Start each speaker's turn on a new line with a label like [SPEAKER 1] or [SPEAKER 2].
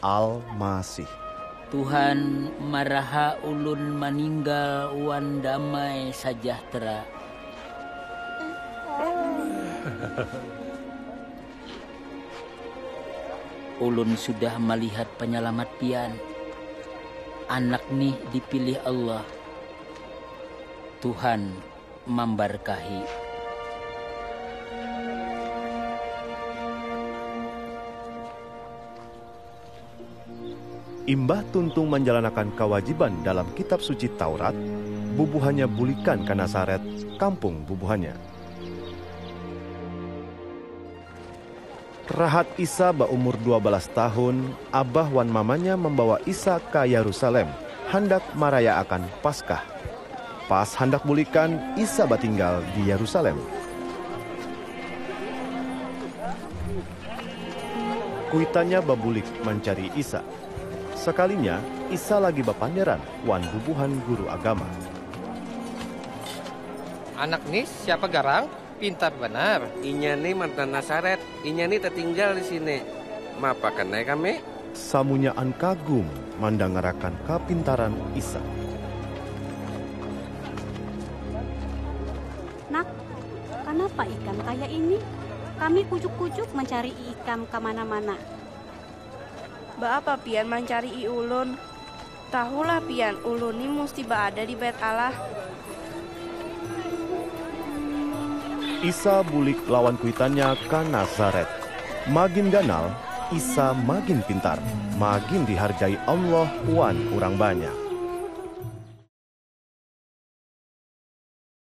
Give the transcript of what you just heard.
[SPEAKER 1] Al-Masih. Tuhan,
[SPEAKER 2] maraha ulun maninggal wan damai sajahtera. Ulun sudah malihat panyalamat Pian. Anak nih dipilih Allah. Tuhan mambarkahi.
[SPEAKER 1] Imbah tuntung manjalanakan kawajiban dalam Kitab Suci Taurat, bubuhannya bulikan ka Nasaret, kampung bubuhannya. Rahat Isa baumur dua balas tahun, abah wan mamanya mambawa Isa ka Yarusalem handak marayaakan Paskah. Pas handak bulikan, Isa batinggal di Yarusalem. Kuitannya babulik mancari Isa. Sakalinya, Isa lagi bapanderan wan bubuhan guru agama.
[SPEAKER 3] Anak ni siapa garang? Pintar banar. Inya ni mantan
[SPEAKER 4] Nasaret. Inya ni tatinggal di sini. Maapakan ai kami. Samunyaan
[SPEAKER 1] kagum mandangarakan kapintaran Isa.
[SPEAKER 5] Nak, kanapa ikam kaya ini? Kami kujuk-kujuk mancari'i ikam ka mana-mana.
[SPEAKER 6] Ba'apa pian mancari'i ulun? Tahulah pian ulun ni musti ba'ada di Bait Allah.
[SPEAKER 1] Isa bulik lawan kuitannya ka Nazaret. Magin ganal, Isa magin pintar, magin dihargai Allah wan urang banyak.